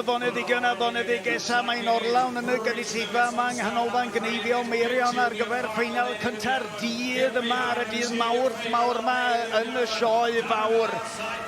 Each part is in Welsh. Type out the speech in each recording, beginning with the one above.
Fonedig yna, Fonedig Esa, mae'n orlawn yn y gynulleidfa yma yng Nghanolfan Gneifio Meirion ar gyfer ffeinal cynta'r dydd yma ar y dydd mawrth mawr yma yn y sioe fawr.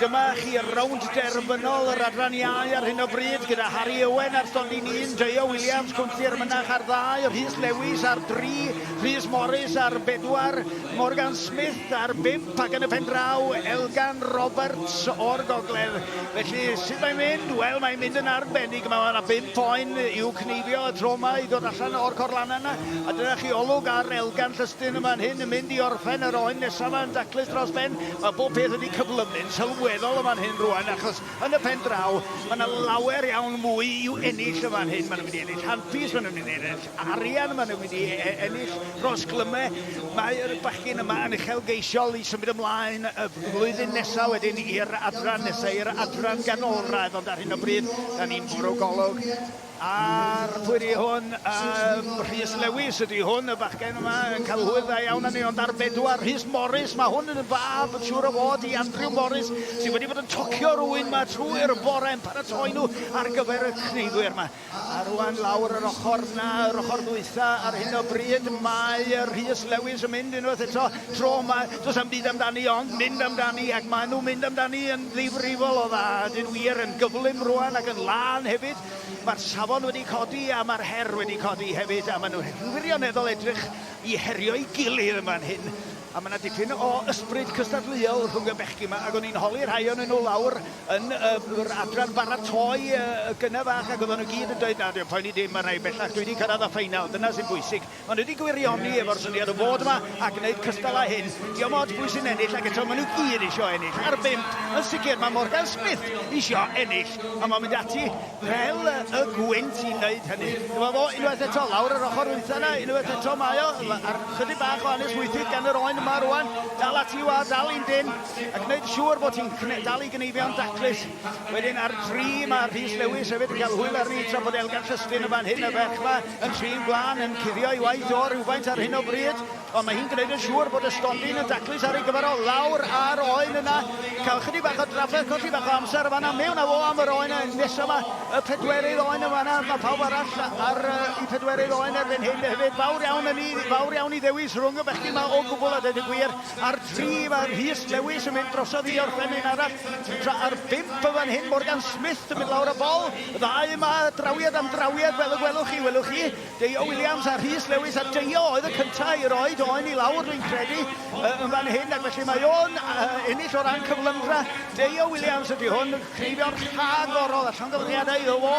Dyma chi rownd derfynol yr adran iau ar hyn o bryd gyda Harry Owen ar stondin un, Deo Williams, Cwmffir Mynach ar ddau, Rhys Lewis ar dri, Rhys Morris ar bedwar, Morgan Smith ar bump ac yn y pen draw, Elgan Roberts o'r gogledd. Felly, sut mae'n mynd? Wel, mae'n mynd yn arbennig. Mae yna bum poen i'w cneifio y tro yma i ddod allan o'r corlanna yna. A dyna chi olwg ar Elgan Llystyn yma'n hyn yn mynd i orffen yr oen nesaf yma yn daclus dros ben. Mae bob peth wedi cyflymu'n sylweddol yma'n hyn rwan achos yn y pen draw mae yna lawer iawn mwy i'w ennill yma'n hyn. Mae nhw'n mynd i ennill handpis, mae nhw'n mynd i ennill arian maen nhw'n mynd i e- e- ennill dros Glyme. Mae'r bachgyn yma yn uchelgeisiol i symud ymlaen y flwyddyn nesaf wedyn i'r adran nesaf, i'r adran ganolradd, ond ar hyn o bryd, da ni'n bwrw golwg ar pwyri hwn. Um, Rhys Lewis ydy hwn, y bachgen yma yn cael hwyl dda iawn â ni, ond ar bedwar, Rhys Morris, mae hwn yn fab yn siŵr o fod i Andrew Morris, sydd wedi bod yn tocio rwy'n yma trwy'r bore yn paratoi nhw ar gyfer y cneiddwyr yma. A rwan lawr yr ochr na, yr ochr ddwytha ar hyn o bryd, mae Rhys Lewis yn mynd unwaith eto. Tro yma, does am byd amdani ond mynd amdani ac maen nhw'n mynd amdani yn ddifrifol o dda. Dyn wir yn gyflym rwan ac yn lân hefyd. Mae'r safon wedi codi a mae'r her wedi codi hefyd a maen nhw'n wirioneddol edrych i herio'i gilydd yn fan hyn. A mae yna dipyn o ysbryd cystadleuol rhwng y bechgyn yma ac o'n i'n holi rhai o'n nhw lawr yn yr adran baratoi y gyna fach ac oedden nhw gyd yn dweud na dim poeni dim mae rhai bellach dwi wedi cyrraedd y ffeinal dyna sy'n bwysig maen nhw wedi gwirioni efo'r syniad o fod yma a gwneud cystal â hyn diom ots pwy sy'n ennill ac eto maen nhw gyd eisiau ennill ar bimp yn sicr mae Morgan Smith eisiau ennill a mae'n mynd ati fel y gwynt i wneud hynny dyma fo unwaith eto lawr yr ochr wytha yna unwaith eto mae o ar chydig bach o anes wythyd gan yr oen yma rwan dal ati wa dal i'n dyn a gwneud yn siŵr bod hi'n dal i gneifio'n daclus. Wedyn ar dri mae Rhys Lewis hefyd yn cael hwyl arni tra bod Elgan Llystyn yn fan hyn y ferch yma yn trin gwlân yn cuddio ei waith o rhywfaint ar hyn o bryd ond mae hi'n gwneud yn siŵr bod y stondin yn daclus ar ei gyfer o lawr ar oen yna cael chydig bach o drafferth colli bach o amser yma na mewn a fo am yr oen nesaf yma y pedwerydd oen yma yna mae pawb arall ar uh, i pedwerydd oen erbyn hyn hefyd fawr iawn yn ni fawr iawn i ddewis rhwng y bechgyn yma o gwbl a dweud y gwir Ar 3 mae Rhys Lewis yn mynd drosodd i orffenyn arall, tra ar 5 yn fan hyn Morgan Smith yn mynd lawr y bol. Ddau yma, drawiad am drawiad fel y gwelwch chi, welwch chi, Deio Williams a Rhys Lewis, a Deio oedd y cyntaf i roi Doen i lawr dwi'n credu yn fan hyn, ac felly mae o'n ennill o ran cyflymdra. Deio Williams ydy hwn, creifio'r rhagorol a llongyfarchiadau iddo fo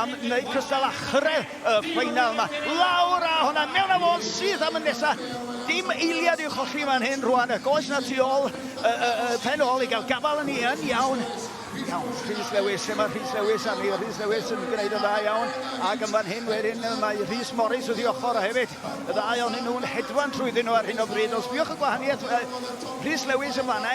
am wneud cystal a chyrraedd y ffeinal yma. Lawr a hwnna mewn a fo'n syth am y nesa. Dim eiliad i'w cholli fan hyn rwan. Y goes na tu ôl, y, y, y pen ôl i gael gafal yn ni yn iawn. Iawn, Rhys Lewis, lle mae Rhys Lewis arni? Rhys Lewis yn gwneud yn dda iawn. Ac yn fan hyn wedyn mae Rhys Morris wrth i ochr hefyd. Y ddau o'n hyn nhw'n hedfan trwyddyn nhw ar hyn o bryd. Os biwch y gwahaniaeth, Rhys Lewis yn fanna,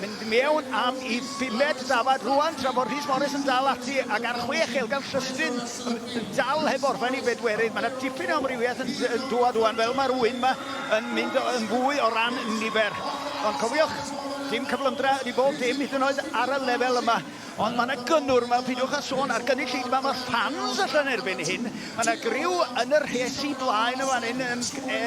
mynd mewn am i bumed dafad rwan tra bod Rhys Morris yn dal ati ac ar chwech elgan llystyn Yn dal heb orffen i bedwerydd. Mae yna dipyn o amrywiaeth yn dŵad wan fel mae'r ŵyn yma yn mynd yn fwy o ran nifer. Ond cofiwch, dim cyflymdra ydi bob dim hyd yn oed ar y lefel yma. Ond mae yna gynnwr yma, pidiwch a sôn ar gynnig llid yma, mae'r ffans allan erbyn hyn. Mae yna griw yn y rhesi blaen y fan hyn yn, e,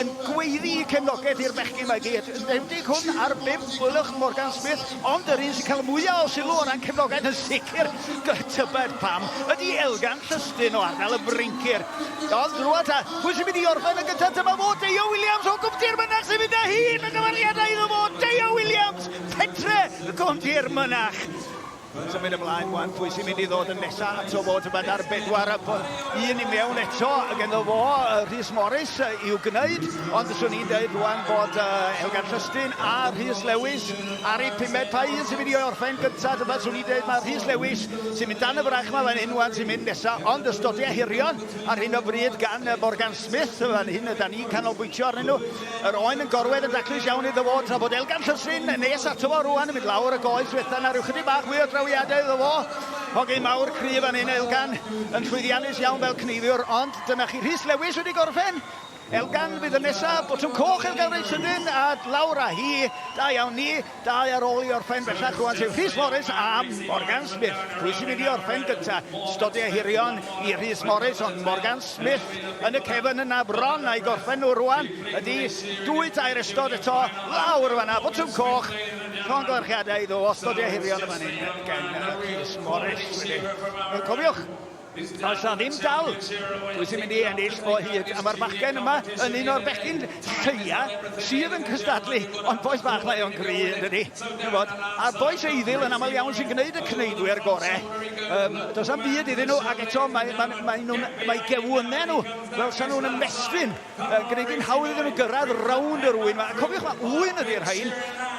yn gweiddi cefnogaeth i'r bechgyn mae gyd. Yn enwedig hwn ar bimp, wylwch Morgan Smith Ond yr un sy'n cael y mwyaf o sylw o ran cefnogaeth yn sicr, gyda tybed pam, ydy Elgan Llystyn o ardal y Fryncir. Ond rwan ta, pwy sy'n mynd i orffen yn gyntaf? Dyma fo, Deio Williams o Gwm Dirmynach sy'n mynd â hi yn y dyfarniadau iddo fo, Deio Williams, pentre y Gwm Dirmynach. Mae'n symud ymlaen rwan, pwy sy'n mynd i ddod yn nesaf ato fo, dyma dar bedwar, un i mewn eto, ac ynddo fo, Rhys Morris i'w gwneud, ond swn i'n dweud rwan bod Elgan Llystyn a Rhys Lewis Ar y pumed Pwy sy'n mynd i orffen gynta dyma swn i'n dweud mae Rhys Lewis sy'n mynd dan y frach mae fan hyn wan sy'n mynd nesa ond y stodia hirion ar hyn o bryd gan y Morgan Smith fan hyn yda ni'n canolbwyntio arnyn nhw yr oen yn gorwedd yn daclus iawn iddo fo tra bod Elgan Llysyn nes ato fo rwan yn mynd lawr y goes fetha na rhyw chydig bach mwy o drawiadau iddo fo hogyn mawr cryf fan hyn Elgan yn llwyddiannus iawn fel cneifiwr ond dyna chi Rhys Lewis wedi gorffen Elgan fydd yn nesa, botwm coch Elgan reit sydyn a lawr a hi, da iawn ni, dau ar ôl i orffen bellach rwan sef Rhys Morris a Morgan Smith. Pwy sy'n mynd i orffen gynta? Stodi a hirion i Rhys Morris ond Morgan Smith yn y cefn yna bron a'i gorffen nhw rwan ydi dwy tair ystod eto lawr fanna botwm coch llongyfarchiadau iddo o stodi a hirion y fan hyn gen Rhys Morris wedi cofiwch Does 'na ddim dal pwy sy'n mynd i ennill o hyd, a mae'r bachgen yma yn un o'r bechgyn lleia sydd yn cystadlu, ond boes bach mae o'n gry yn dydi, bod, a boes eiddil yn aml iawn sy'n gwneud y cneidwyr gore. Um, does am byd iddyn nhw, ac eto mae, mae, mae, nhw, mae gewynnau nhw, fel sa'n nhw'n ymestyn Mae'n gwneud hi'n hawdd iddyn nhw gyrraedd rownd yr ŵyn 'ma. A cofiwch, mae ŵyn ydy'r rhain.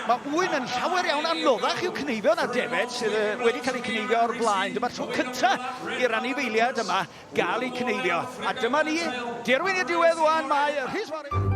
Mae ŵyn yn llawer iawn anoddach i'w cneifio na defaid sydd yy wedi cael eu cneifio o'r blaen. Dyma'r tro cynta i'r anifeiliaid yma gael eu cneifio. A dyma ni, derwyn i'r diwedd ŵan, mae y Rhys Morris.